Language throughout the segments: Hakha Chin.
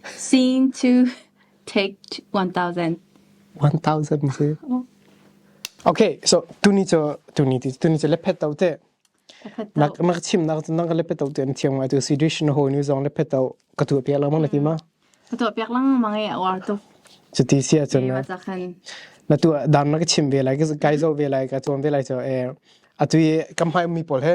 Scene two, take one thousand. One thousand cu. Okay, so tuni cu tuni ti tuni cu lephet tau te. Nak nak chim nak nak ka lephet tau te an thiam ngai tu situation ho ni zong lephet tau ka tu piak lang mang na ti ma. Ka tu piak lang mang e war tu. Cu ti sia chun na. Na tu dan na ka chim ve lai ka kai zo ve lai ka tuan ve lai cho e. Atui kam hai mi pol he.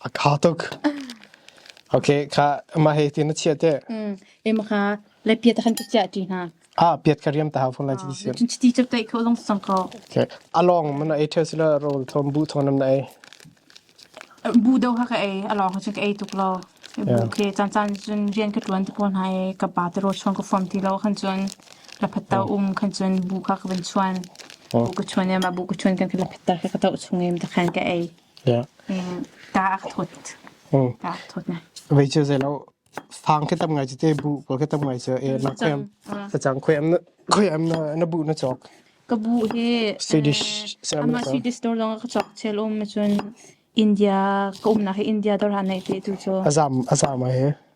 A tha tuk. Okay, kha ma he tin a chia te. Mm. Em kha le piet khan ti chia ti hna. Ah, piet ka riam ta hau phun lai ti si. Chin chiti chep tai kho long sang ko. Okay. Along man ai the sila roll thon bu thon nam na ai. Bu do ha ka ai along ha chu ka ai tuk lo. Bu ke chan chan chun rian ka tuan te pon hai ka ba te ro chuan ko form ti lo khan chun la phatta um khan chun bu kha ka ban chuan. Bu ka chuan ya ma bu ka chuan kan ka la phatta ka ka tau chung em ta khan ka ai. Vei cu zei lo fang khi tam ngai cu te bu ko khi tam ngai cu e na khem ta chang khoi am na khoi am na na bu na chok ka bu hi Swedish ama Swedish dor long ka chok chel um cun India ka um na hi India dor han nei te tu chu azam azam he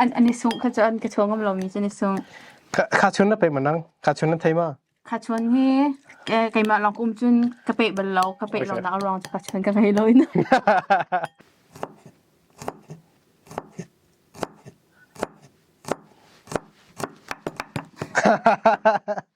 an an i sungh kha cun ka chuang ngam lomi cu ni sungh kha chun na pe manang kha chun na thei ma kha chun hi keimah lawng kum cun ka pe bal lo ka pe lo nak rong cu ka chun ka ngei lo na ha ha ha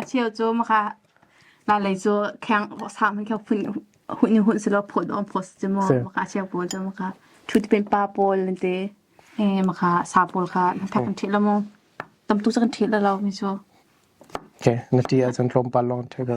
A cheu cu hmaka nanlei cu kheng sa hmanh kha hun ni hun si law phaw dawm phaw si maw hmaka a cheu pawl cu hmaka ṭhutpen pa pawl an ti i hmaka sa pawl kha na thak kan ṭhit lo maw tamtuk cu kan ṭhit lo lo mi cu. Ok na ṭi ahcun tlawmpal lawng ṭhit ko.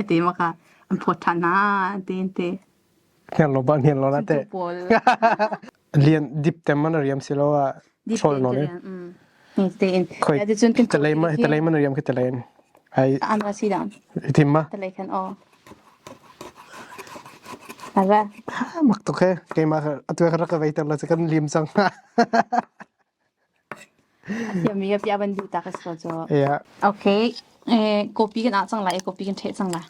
Ati maka an phawt than na ti ti. Hner lo ba hner lo na te. Lian dip tem man riam si lo a chol no ne. Ni tein. Khoi. Talai ma talai man riam ke talai. Ai. Andra sida. Itim ma. Talai kan o. Ara. Mak to ke. Ke ma atu ka raka veiter la kan lim sang. Siami a piah ban du ta ka si ko cu. Yeah. Okay. Eh, copy kan ah cang lai, copy kan ṭheh cang lai.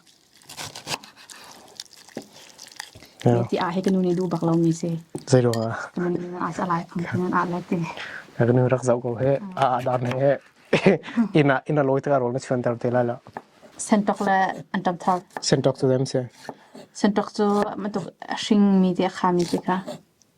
Yeah. Ti ah he kanu nih du bak lo mi si. Zei lo ah. Kanu nih a sa lai, kanu a lai ti. Kanu rak zau ko he, a a dan he. Ina ina loi ta rol ma chuan tar te lai la. Sentok le antam thar. Sentok to them se. Sentok to matuk hring mi te kha mi te ka.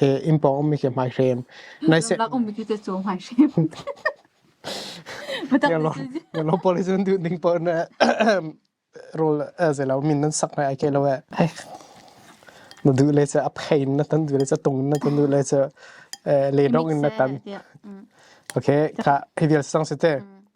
he inn pawng ummi khi hmai hrem. Zumhnak ummi tu te cu hmai hrem. Ngalo police nan duh ning paoh na rawl zei lo min nan sak na ai ke lo e. Na duh le ca aphein na tan duh le ca tung na tan duh le ca le dong in na tan. Okay, ka hi vial sang si te.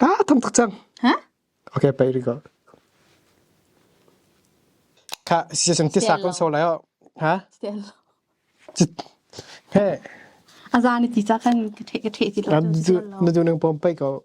Ah thong tuk cang. Ha? Okay pei đi go. Kha si sang ti sa kon so lai o. Ha? Still. He. Azan ni ti cha kan ka the ka the ti lo. Kan du na du nang pom pei go.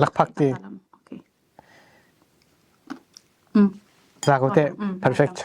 Lakphak ti. Za ko teh. Perfect.